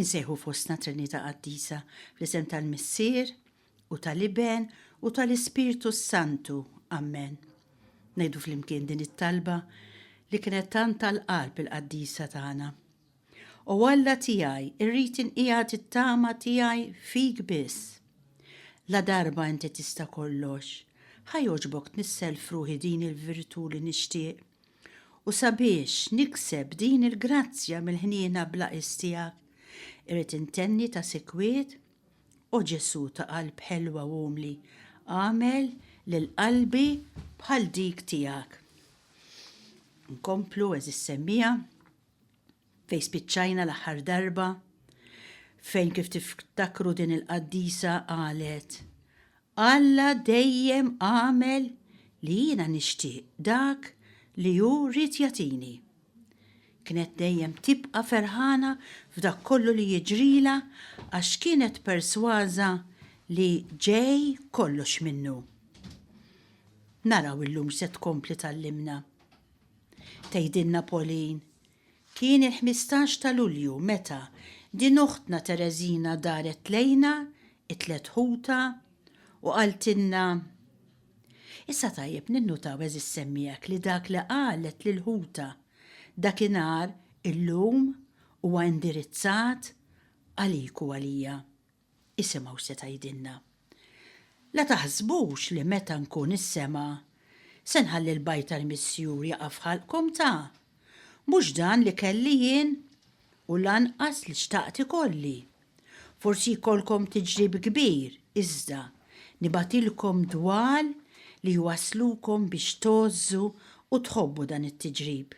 Insejħu fostna Trinità Qaddisa fl-isem tal-Missier u tal-Iben u tal-Ispirtu s-Santu. Ammen. Ngħidu flimkien din it-talba li kienet tant tal-qalb il-qaddisa tagħna. O Alla tiegħi, irrid inqiegħed it-tama tiegħi fik biss. La darba inti tista' kollox, ħa jogħġbok tnissel f'ruħi din il-virtù li nixtieq. U sabiex nikseb din il-grazzja mill-ħniena bla qies tiegħek, irrid intenni ta' sikwit, O Ġesù ta' qalb ħelwa u umli, agħmel lil qalbi bħal dik tiegħek. Nkomplu, għeżież semmiegħa, Fejn spiċċajna l-aħħar darba? Fejn kif tiftakru din il-qaddisa qalet, Alla dejjem għamel li jiena nixtieq dak li hu ried jagħtini. Kienet dejjem tibqa' ferħana f'dak kollu li jiġrilha għax kienet persważa li ġej kollox minnu. Naraw illum x'se tkompli tgħallimna. Tgħidilna Pauline, Kien il-ħmistax ta' Lulju meta din oħtna Tereżina daret lejna, it-tliet ħutha, u qaltilna, Issa tajjeb ninnutaw għeżież semmiegħek li dak li qalet lil ħutha dakinhar illum huwa indirizzat għalik u għalija. Isimgħu x'se tgħidilna. La taħsbux li meta nkun is-sema, se nħalli l-bajd tal-Missjur jaqa' f'ħalqkom ta! Mhux dan li kelli jien, u lanqas li xtaqt ikolli. Forsi jkollkom tiġrib kbir, iżda nibgħatilkom dwal li jwasslukom biex tgħożżu u tħobbu dan it-tiġrib.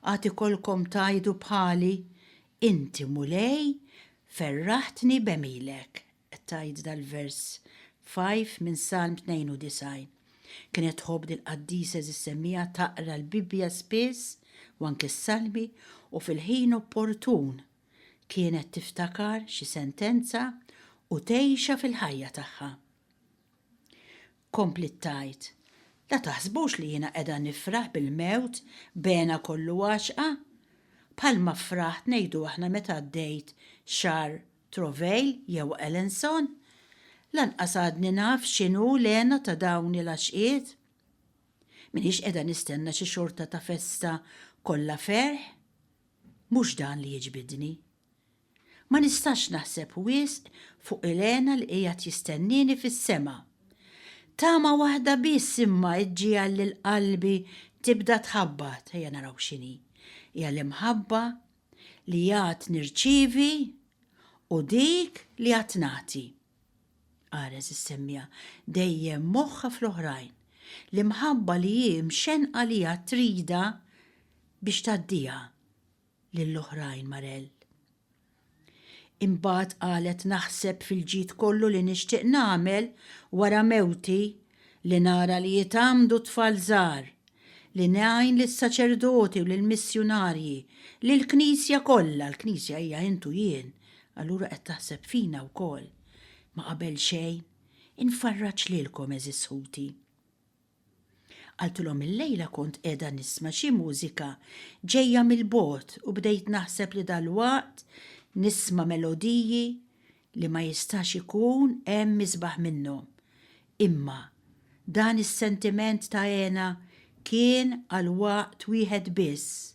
Għad ikolkom tgħidu bħali, 'Inti, Mulej, ferraħtni b'għemilek', qed tgħid dal-vers 5 minn Salm 92. Kienet tħobb lill-qaddisa Eżiż Semmiha taqra l-Bibbja spiss u anki s-Salmi u fil-ħin opportun kienet tiftakar xi sentenza u tgħixha fil-ħajja tagħha. Kompliet tgħid, La taħsbux li jiena qiegħda nifraħ bil-mewt b'hena kollu għaxqa, bħalma fraħt ngħidu aħna meta għaddejt xagħar Trovail jew Alanson. Lanqas għadni naf x'inhu l-hena ta' dawn il-għaxqiet. M'iniex qiegħda nistenna xi xorta ta' festa kollha ferħ. Mhux dan li jiġbidni. Ma nistax naħseb wisq fuq Elena li qiegħed jistennieni fis-sema. Tama waħda biss imma ġġiegħel lil qalbi tibda tħabbat, ejja naraw x'inhi. Hija l-imħabba li għad nirċievi u dik li għad nagħti. Qares is-semmiegħa, dejjem moħħha fl-oħrajn. L-imħabba li hi mxennqa li għad tridha biex tgħaddiha. lil oħrajn Marelle. Imbagħad qalet naħseb fil-ġid kollu li nixtieq nagħmel wara mewti li nara li jitgħammdu t-tfal żgħar, li ngħin lis-saċerdoti u lill-missjunarji, lill-Knisja kollha, l-Knisja hija int u jien, allura qed taħseb fina wkoll, ma qabel xejn, infarraġ lilkom għeżież ħuti. Qaltilhom illejla kont qiegħda nisma' xi mużika ġejja mill-bogħod u bdejt naħseb li dalwaqt nisma' melodiji li ma jistax ikun hemm isbaħ minnhom. Imma dan is-sentiment ta' hena kien għal waqt wieħed biss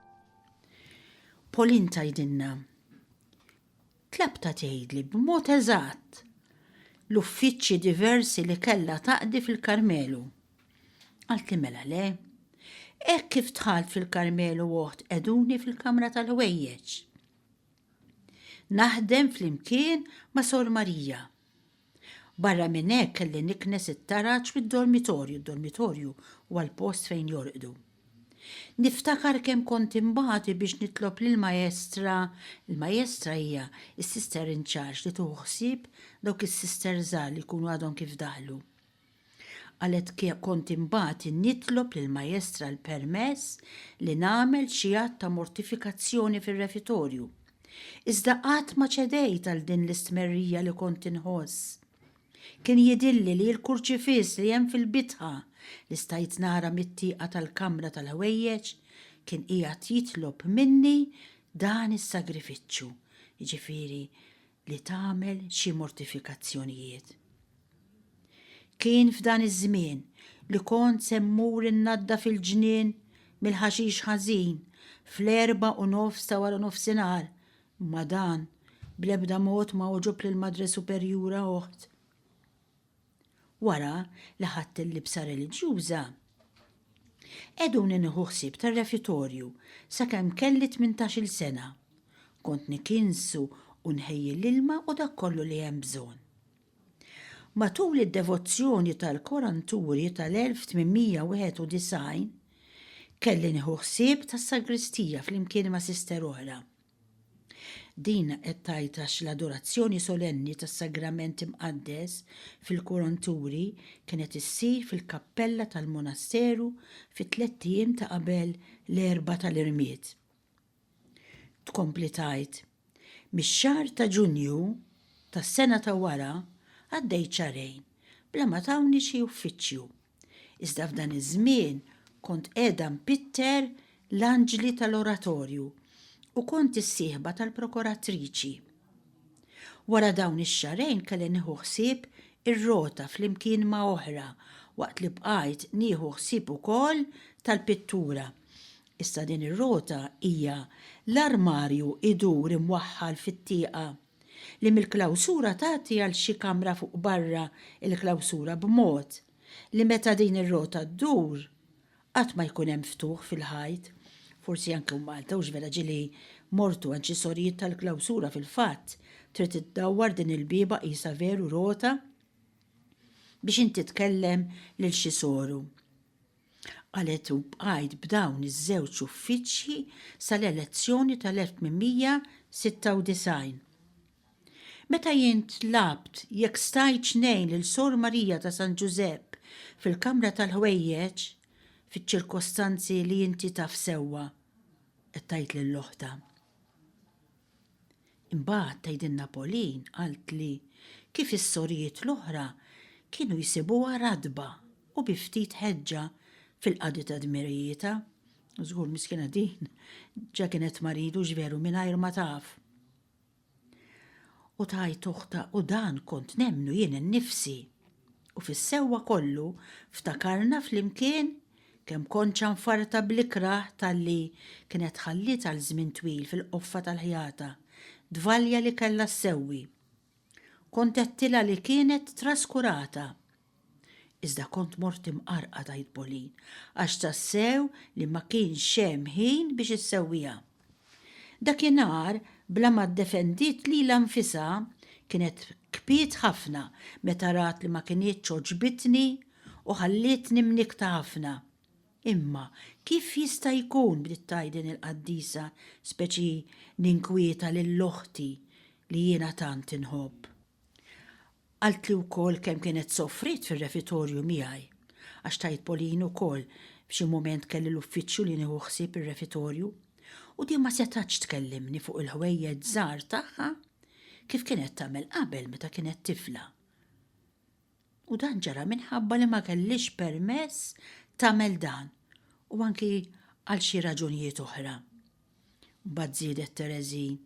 Pauline tgħidilna, Tlabtha tgħidli b'mod eżatt l-uffiċċji diversi li kellha taqdi fil-Karmelu. Qaltli mela le. Hekk kif dħalt fil-Karmelu oħt qeduni fil-kamra tal-ħwejjeġ. Naħdem flimkien ma' Sor Marija. Barra minn hekk kelli niknes it-taraġ fid-dormitorju, d-dormitorju huwa l-post fejn jorqdu. Niftakar kemm kont inbati biex nitlob lill-maestra, il-maestra hija s-sister in charge li tieħu ħsieb dawk is-sister żgħar li jkunu għadhom kif daħlu. Qalet Kont imbagħti nitlob lill-maestra l-permess li nagħmel xi att ta' mortifikazzjoni fir-refitorju. Iżda qatt ma ċedejt għal din l-istmerrija li kont inħoss. Kien jidhirli li l-kurċifiss li hemm fil-bitħa, li stajt nara mit-tieqa tal-kamra tal-ħwejjeġ, kien qiegħed jitlob minni dan is-sagrifiċċju, jiġifieri li tagħmel xi mortifikazzjonijiet. Kien f'dan iż-żmien li kont se mmur innadda fil-ġnien mill-ħaxix ħażin fl-erba' u nofs ta' wara nofsinhar, imma dan bl-ebda mod ma għoġob lill-Madre Superjura oħt. Wara li ħadt il-libsa reliġjuża, qegħduni nieħu ħsieb tar-refitorju sakemm kelli tmintax-il sena. Kont nikinsu u nħejji l-ilma u dak kollu li hemm bżonn. Matul id-devozzjoni tal-Koranturi tal-1891, kelli nieħu ħsieb tas-sagristija flimkien ma' sister oħra. Din qed tgħid għax l-adorazzjoni solenni tas-Sagrament Imqaddes fil-Kuronturi kienet issir fil-kappella tal-monasteru fit-tlett ijiem ta' qabel l-Erbgħa tal-Irmied. Tkompli tgħid, Mix-xahar ta' Ġunju tas-sena ta' wara għaddejt xahrejn bla ma tawni xi uffiċċju. Iżda f'dan iż-żmien kont qiegħda npitter l-anġli tal-oratorju u kont is-sieħba tal-prokoratriċi. Wara dawn ix-xahrejn kelli nieħu ħsieb ir-rota flimkien ma' oħra waqt li bqajt nieħu ħsieb ukoll tal-pittura. Issa din ir-rota hija l-armarju jdur imwaħħal fit-tieqa. li mill-klawsura tgħaddi għal xi kamra fuq barra l-klawsura b'mod li meta din ir-rota ddur qatt ma jkun hemm ftuħ fil-ħajt, forsi anke hu Malta u x'vera ġieli mortu għand xi sorijiet tal-klawsura fil-fatt trid iddawwar din il-bieba qisha veru rota biex inti tkellem lil xi soru. Qalet u bqajt b'dawn iż-żewġ uffiċċji sal-elezzjoni tal-1896. Meta jien tlabt jekk stajtx ngħin lil Sor Marija ta' San Ġużepp fil-kamra tal-ħwejjeġ, fiċ-ċirkostanzi li inti taf sewwa, qed tgħid lil oħtha. Imbagħad tgħidilna Pauline qalt li kif is-sorijiet l-oħra kienu jsibuha ratba u bi ftit ħeġġa fil-qadi ta' dmirijietha. Żgur miskina din ġa kienet marida hux veru mingħajr ma taf. U tgħid uħta u dan kont nemmnu jien innifsi. U fis-sewwa kollu ftakarna flimkien Kemm kont ċanfarta bl-ikrah talli kienet tħalliet għal żmien twil fil-qoffa tal-ħjata, dvalja li kellha ssewwi. Kont għedtilha li kienet traskurata. Iżda kont mort imqarqad, għid Pauline, għax tassew li ma kienx hemm ħin biex issewwiha. Dakinhar, bla ma ddefendiet lilha nfisha, kienet kbiet ħafna meta rat li ma kinitx għoġbitni u ħallietni mnikkta ħafna. Imma kif jista' jkun, bdiet tgħidilni l-qaddisa, speċi ninkwieta lil oħti li jiena tant inħobb. Qaltli wkoll kemm kienet sofriet fir-refitorju miegħi, għax tgħid Pauline ukoll f'xi mument kelli l-uffiċċju li nieħu ħsieb ir-refitorju, u din ma setgħatx tkellimni fuq il-ħwejjeġ żgħar tagħha kif kienet tagħmel qabel meta kienet tifla. U dan ġara minħabba li ma kellhiex permess tagħmel dan u anki għal xi raġunijiet oħra. Mbagħad żiedet Tereżin.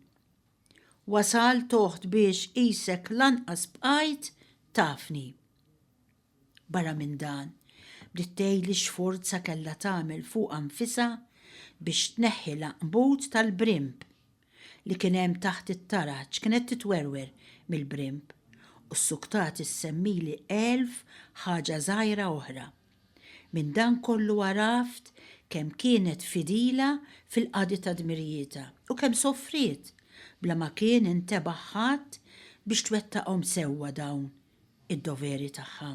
Wasal toħt biex qisek lanqas bqajt tafni. Barra minn dan, bdiet tgħidli x'forza kellha tagħmel fuqha nfisha biex tneħħi l-għanqbut tal-brimb li kien hemm taħt it-taraġ, kienet titwerwer mill-brimb u ssuktati ssemmili elf ħaġa żgħira oħra. Minn dan kollu għaraft kemm kienet fidila fil-qadi ta' dmirijietha u kemm sofriet bla ma kien intebaħ ħadd biex twettaqhom sewwa dawn id-doveri tagħha.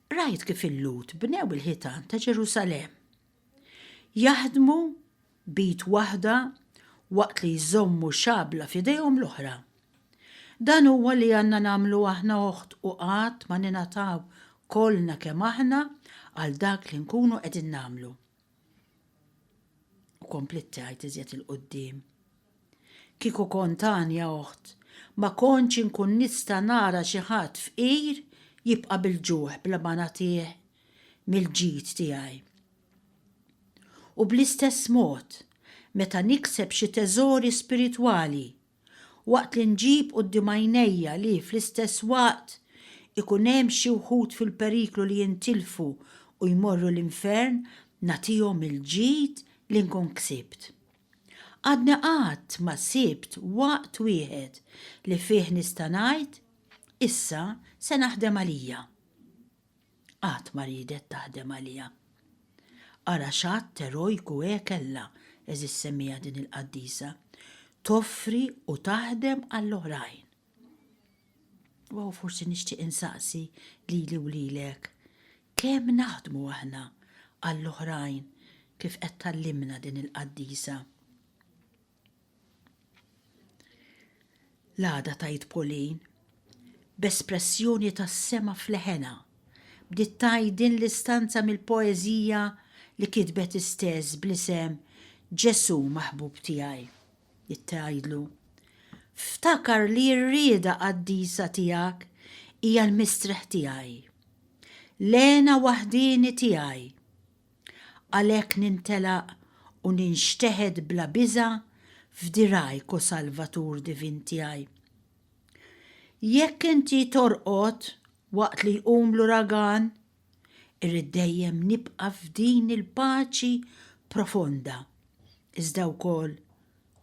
Rajt kif il-Lhud bnew il-ħitan ta' Ġerusalemm. Jaħdmu b'id waħda waqt li jżommu xabla f'idejhom l-oħra. Dan huwa li għandna nagħmlu aħna oħt u qatt ma ningħataw kollna kemm aħna għal dak li nkunu qegħdin nagħmlu. U komplit tgħid iżjed il-qudiem. Kieku kont għanja oħt, ma kontx inkun nista' nara xi ħadd fqir jibqa' bil-ġuħ bla ma nagħtih mill-ġid tiegħi. U bl-istess mod, meta nikseb xi teżori spiritwali, waqt li nġib quddiem għajnejja li, fl-istess waqt, ikun hemm xi wħud fil-periklu li jintilfu u jmorru l-infern, nagħtihom il-ġid li nkun ksibt. Għadni qatt ma sibt waqt wieħed li fih nista' ngħid, Issa se naħdem għalija. qatt ma riedet taħdem għaliha. Ara x'att erojku he kellha, għeżież semmiegħa din il-qaddisa, toffri u taħdem għall-oħrajn. U hawn forsi nixtieq insaqsi lili u lilek, kemm naħdmu aħna għall-oħrajn kif qed tgħallimna din il-qaddisa? L-għada tgħid Pauline, b'espressjoni tas-sema f'leħenha, bdiet tgħid din l-istanza mill-poeżija li kitbet hi stess bl-isem Ġesù maħbub tiegħi. Bdiet tgħidlu, Ftakar li r-rieda qaddisa tiegħek hija l-mistrieħ tiegħi, l-hena waħdieni tiegħi. Għalhekk nintelaq u ninxteħet bla biża' f'dirgħajk o Salvatur divin tiegħi. Jekk inti torqod waqt li jqum l-uragan, irrid dejjem nibqa' f'din il-paċi profonda, iżda wkoll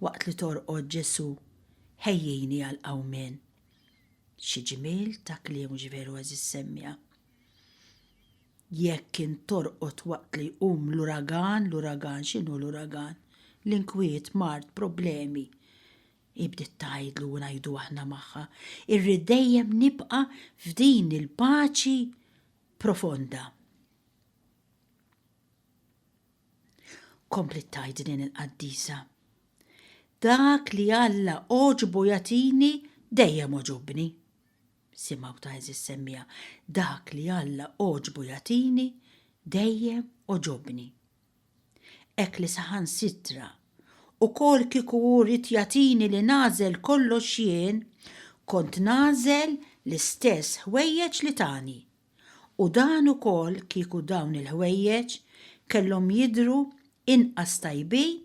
waqt li torqod Ġesu' ħejjini għall-qawmien. Xi ġmiel ta' kliem hux veru għeżiż semmija? Jekk kien torqod waqt li jqum l-uragan, l-uragan, x'inhu l-uragan? L-inkwiet, mard, problemi. Hi bdiet tgħidlu u ngħidu aħna magħha, irrid dejjem nibqa' f'din il-paċi profonda. Kompliet tgħid din il-qaddisa. Dak li Alla għoġbu jagħtini dejjem għoġobni. Simgħu ta' għeżież semmiegħa, Dak li Alla għoġbu jagħtini, dejjem għoġobni. Hekk li saħansitra, ukoll kieku hu ried jagħtini li nagħżel kollox jien, kont nagħżel l-istess ħwejjeġ li tani. U dan ukoll kieku dawn il-ħwejjeġ kellhom jidhru inqas tajbin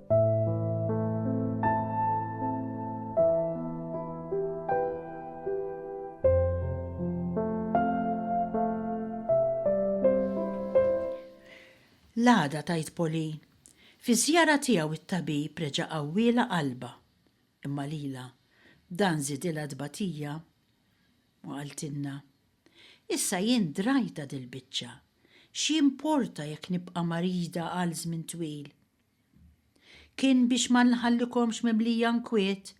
L-għada tgħid Pauline, fiż-żjara tiegħu t-tabib reġa' qawwielha qalbha, imma lilha dan żidilha t-tbatija u qaltilna, Issa jien drajtha dil-biċċa, x'jimporta jekk nibqa' marida għal żmien twil? Kien biex ma nħallikomx mimlija nkwiet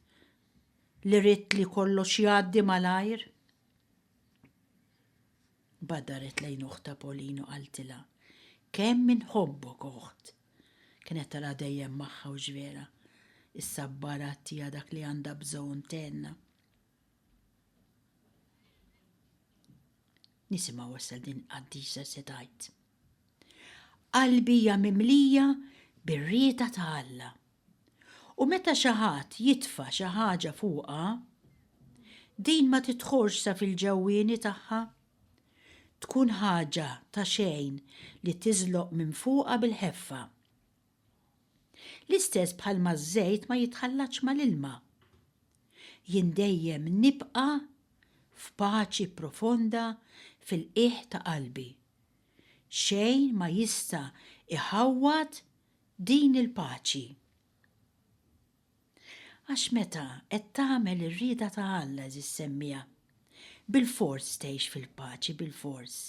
li ridt li kollox jgħaddi malajr. Badaret lejn oħta Polino qaltilha, Kemm inħobbok oħt! Kienet tara dejjem magħha u x'vera, issa bbarat tiha dak li għandha bżonn tenna. Nisimgħu wassa din qaddisa se tgħid. Qalbi hija mimlija bir-rieta ta' Alla. U meta xi ħadd jitfa' xi ħaġa fuqha, din ma titħorġ sa fil-ġewwieni tagħha. Tkun ħaġa ta' xejn li tiżloq minn fuqha bil-ħeffa. L-istess bħalma ż-żejt ma jitħallatx mal-ilma. Jien dejjem nibqa' f'paċi profonda fil-qiegħ ta' qalbi. Xejn ma jista' jħawwad din il-paċi. Għax meta qed tagħmel ir-rieda ta' Alla, eżiż semmiegħa, bilfors tgħix fil-paċi, bilfors.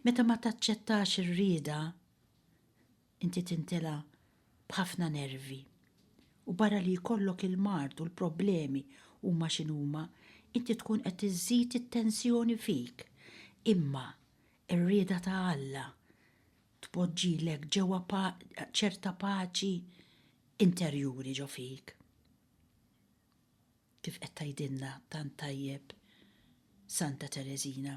Meta ma taċċettax ir-rieda, inti tintelgħa b'ħafna nervi u barra li jkollok il-mard u l-problemi huma x'inhuma, inti tkun qed iżżid it-tensjoni fik. Imma r-rieda ta' Alla tpoġġilek ġewwa ċerta paċi interjuri ġo fik. Kif qed tgħidilna tant tajjeb Santa Tereżina.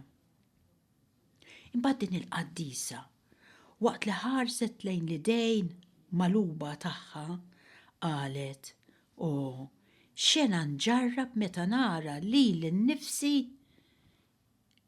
Imbagħad din il-qaddisa, waqt li ħarset lejn l-idejn magħluba tagħha, qalet, O, x'xena nġarrab meta nara lili nnifsi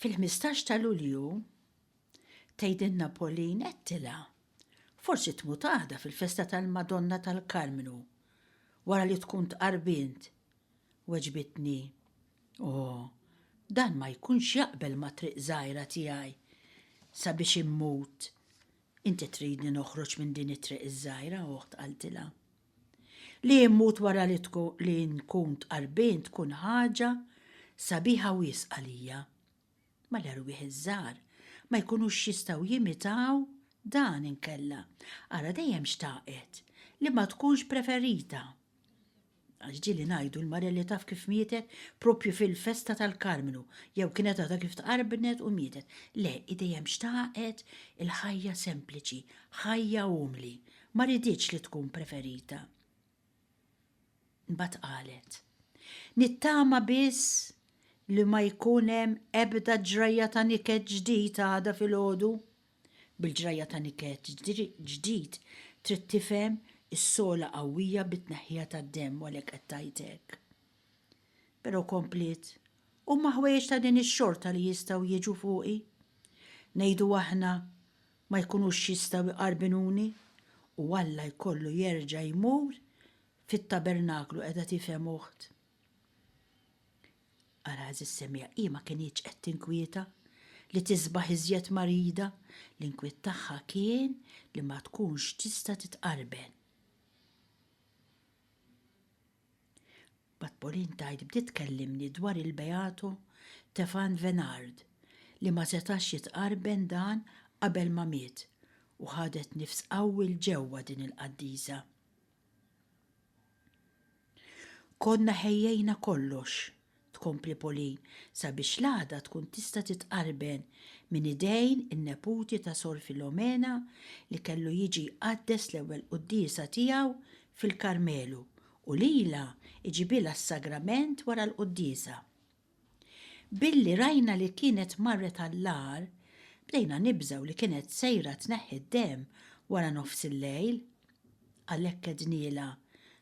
Fil-ħmistax ta' Lulju, tgħidilna Pauline għedtilha, Forsi tmut għada fil-festa tal-Madonna tal-Karmnu, wara li tkun tqarbint. Weġbitni, O, dan ma jkunx jaqbel mat-triq żgħira tiegħi sabiex immut. Inti tridni noħroġ minn din it-triq iż-żgħira, oħt, qaltilha. Li immut wara li li nkun tqarbin tkun ħaġa sabiħa wisq għalija. Ma l-erwieħ iż-żgħar ma jkunux jistgħu jimitaw dan inkella ara dejjem xtaqet li ma tkunx preferita. Għax ġieli ngħidu l-marelli taf kif mietet proprju fil-festa tal-Karmnu jew kienet għadha kif tqarbnet u mietet. Le, hi dejjem xtaqet il-ħajja sempliċi, ħajja umli, Ma riditx li tkun preferita. Mbagħad qalet, Nittama biss li ma jkun hemm ebda ġrajja ta' niket ġdid għada filgħodu. Bil-ġrajja ta' niket ġdid trid tifhem is-sogħla qawwija bit-tneħħija tad-demm u għalhekk qed tgħid hekk. Però kompliet, Huma ħwejjeġ ta' din ix-xorta li jistgħu jiġu fuqi. Ngħidu aħna ma jkunux jistgħu jqarbinuni u Alla jkollu jerġa' jmur fit-tabernaklu, qiegħda tifhem uħt? Ara għażiż semmiegħa, hi ma kinitx qed tinkwieta li tisbaħ iżjed marida, l-inkwiet tagħha kien li ma tkunx tista' titqarben. Mbagħad Pauline tgħid bdiet tkellimni dwar il-Beatu Tefan Venard li ma setax jitqarben dan qabel ma miet u ħadet nifs qawwi 'l ġewwa din il-qaddisa. Konna ħejjejna kollox tkompli Pauline, sabiex l-għaqda tkun tista' titqarben minn idejn in-neputi ta' Sor Filomena li kellu jiġi jqaddes l-ewwel quddiesa tiegħu fil-Karmelu u lilha jġibilha s-sagrament wara l-quddiesa. Billi rajna li kienet marret għall-agħar, bdejna nibżgħu li kienet sejra tneħħi d-demm wara nofsillejl. Għalhekk għednielha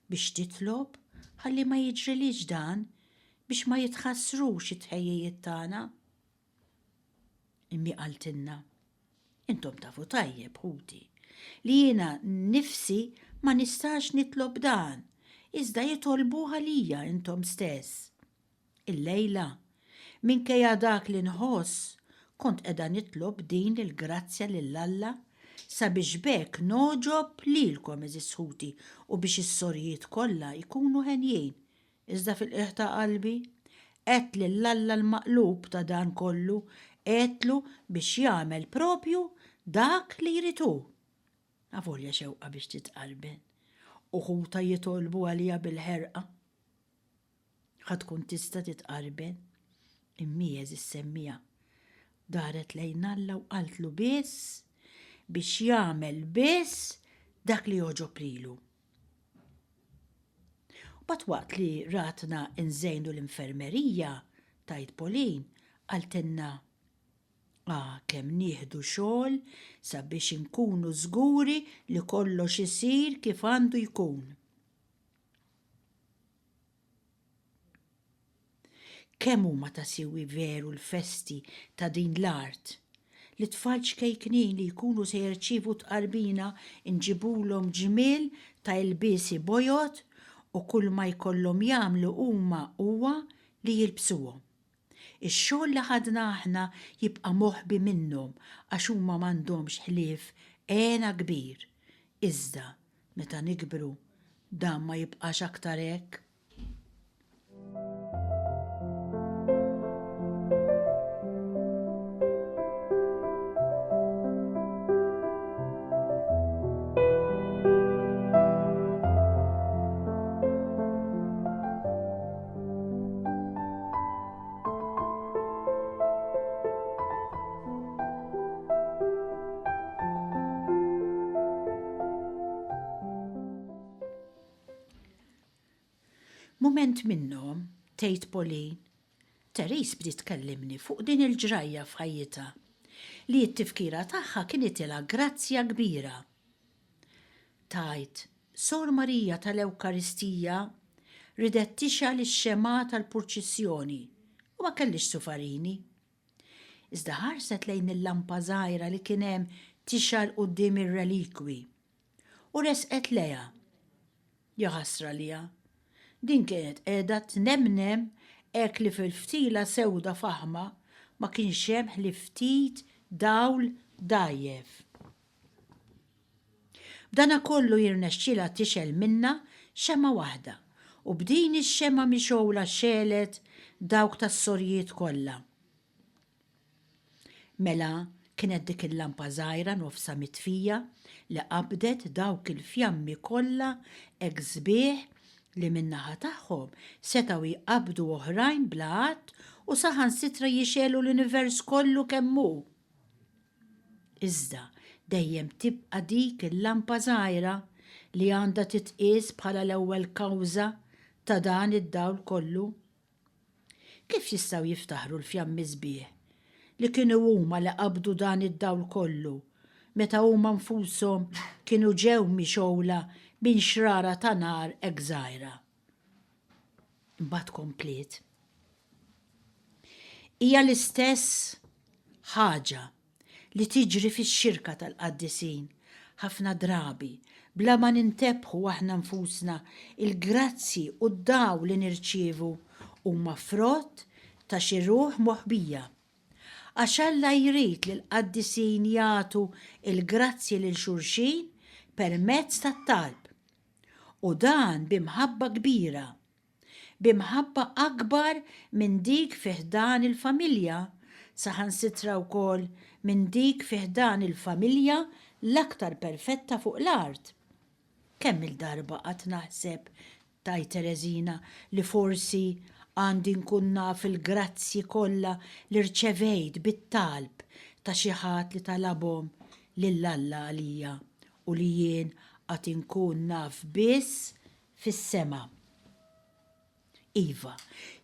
biex titlob ħalli ma jiġrilhiex dan biex ma jitħassrux it-tħejjijiet tagħna. Immi qaltilna, Intom tafu tajjeb, ħuti, li jiena nnifsi ma nistax nitlob dan, iżda jitolbuh għalija intom stess. Illejla, minkejja dak li nħoss, kont qiegħda nitlob din il-grazzja lil Alla sabiex b'hekk ngħoġob lilkom, għeżież ħuti, u biex is-sorijiet kollha jkunu henjin. Iżda fil-qiegħ ta' qalbi, għedt lil Alla l-Maqlub ta' dan kollu, għedtlu biex jagħmel proprju dak li jrid hu. Avolja xewqa biex titqarben, u ħutha jitolbu għaliha bil-ħerqa. Ħa tkun tista' titqarben. Immiez is-semmiegħa daret lejn Alla u qaltlu biss biex jagħmel biss dak li jogħġob lilu. Mbagħad waqt li ratna nżejnu l-infermerija, tgħid Pauline, qaltilna Ah, kemm nieħdu xogħol sabiex inkunu żguri li kollox isir kif għandu jkun. Kemm huma ta' siwi veru l-festi ta' din l-art! Lit-tfal ċkejknin li jkunu se jirċievu t-tqarbina nġibulhom ġmiel ta' ilbiesi bojod u kulma jkollhom jagħmlu huma huwa li jilbsuhom. Ix-xogħol li ħadna aħna jibqa' moħbi minnhom għax huma m'għandhomx ħlief hena kbir. Iżda, meta nikbru, dan ma jibqax aktar hekk. Mument minnhom, tgħid Pauline, Therese bdiet tkellimni fuq din il-ġrajja f'ħajjitha li t-tifkira tagħha kienet ilha grazzja kbira. Tgħid, Sor Marija tal-Ewkaristija ridet tixgħel ix-xemgħa tal-purċissjoni u ma kellhiex sufarini. Iżda ħarset lejn il-lampa żgħira li kien hemm tixgħel quddiem ir-relikwi u resqet lejha. Jaħasra liha. Din kienet qiegħda tnemnem hekk li fil-ftila sewda faħma ma kienx hemm ħlief ftit dawl dgħajjef. B'dana kollu jirnexxilha tixgħel minnha xemgħa waħda, u b'din ix-xemgħa mixgħula xegħlet dawk tas-sorjiet kollha. Mela kienet dik il-lampa żgħira nofsha mitfija li qabdet dawk il-fjammi kollha hekk sbieħ li min-naħa tagħhom setgħu jqabbdu oħrajn bla għadd u saħansitra jixgħelu l-univers kollu kemm hu. Iżda, dejjem tibqa' dik il-lampa żgħira li għandha titqies bħala l-ewwel kawża ta' dan id-dawl kollu. Kif jistgħu jiftaħru l-fjammi sbieħ li kienu huma li qabdu dan id-dawl kollu meta huma nfushom kienu ġew mixgħula minn xrara ta' nar hekk żgħira? Imbagħad kompliet, Hija l-istess ħaġa li tiġri fix-xirka tal-qaddisin, ħafna drabi, bla ma nintebħu aħna nfusna, il-grazzji u d-dawl li nirċievu huma frott ta' xi ruħ moħbija. Għax Alla jrid li l-qaddisin jagħtu l-grazzji lil xulxin permezz tat-talb, U dan bi mħabba kbira, bi mħabba akbar minn dik fi ħdan il-familja, saħansitra wkoll minn dik fi ħdan il-familja l-aktar perfetta fuq l-art. Kemm-il darba qatt naħseb, tgħid Tereżina, li forsi għandi nkun naf il-grazzji kollha li rċevejt bit-talb ta' xi ħadd li talabhom lil Alla għalija u li jien għad inkun naf biss fis-sema. Iva,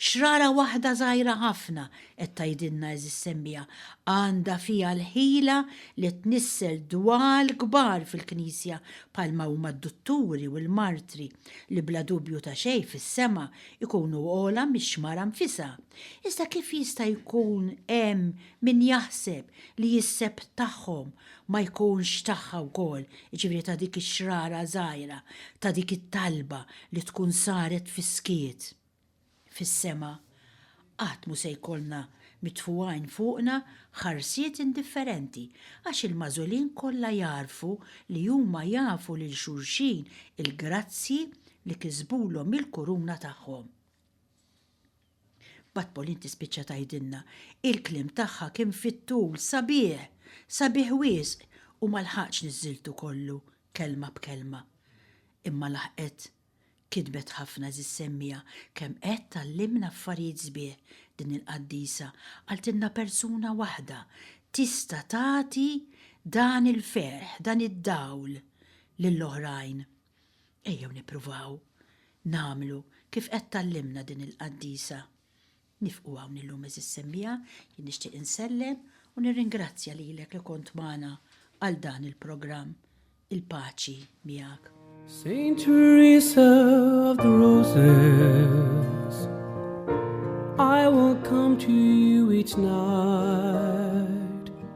xrara waħda żgħira ħafna, qed tgħidilna għeżież semmiegħa, għandha fiha l-ħila li tnissel dwal kbar fil-Knisja bħalma huma d-dutturi u l-martri li bla dubju ta' xejn fis-sema jkunu ogħla mix-xmara nfisha. Iżda kif jista' jkun hemm min jaħseb li jisseb tagħhom ma jkunx tagħha wkoll, jiġifieri ta' dik ix-xrara żgħira, ta' dik it-talba li tkun saret fis-skiet. Fis-sema, qatt mhu se jkollna mitfugħin fuqna ħarsiet indifferenti, għax il-magħżulin kollha jagħrfu li huma jafu lil xulxin il-grazzji li kisbulhom mill-kuruna tagħhom. Mbagħad Pauline tispiċċa tgħidilna, Il-kliem tagħha kien fit-tul, sabiħ! Sabiħ wisq! U ma lħaqtx niżżiltu kollu, kelma b'kelma. Imma laħqet. Kitbet ħafna eżiż semmiegħa, kemm qed tgħallimna affarijiet sbieħ din il-qaddisa, qaltilna persuna waħda tista' tagħti dan il-ferħ, dan id-dawl lil oħrajn. Ejjew nippruvaw nagħmlu kif qed tgħallimna din il-qaddisa. Nifqu hawn illum għeżież semmiegħa, jien nixtieq insellem u nirringrazzja lilek li kont magħna għal dan il-programm. Il-paċi miegħek. Saint Teresa of the Roses I will come to you each night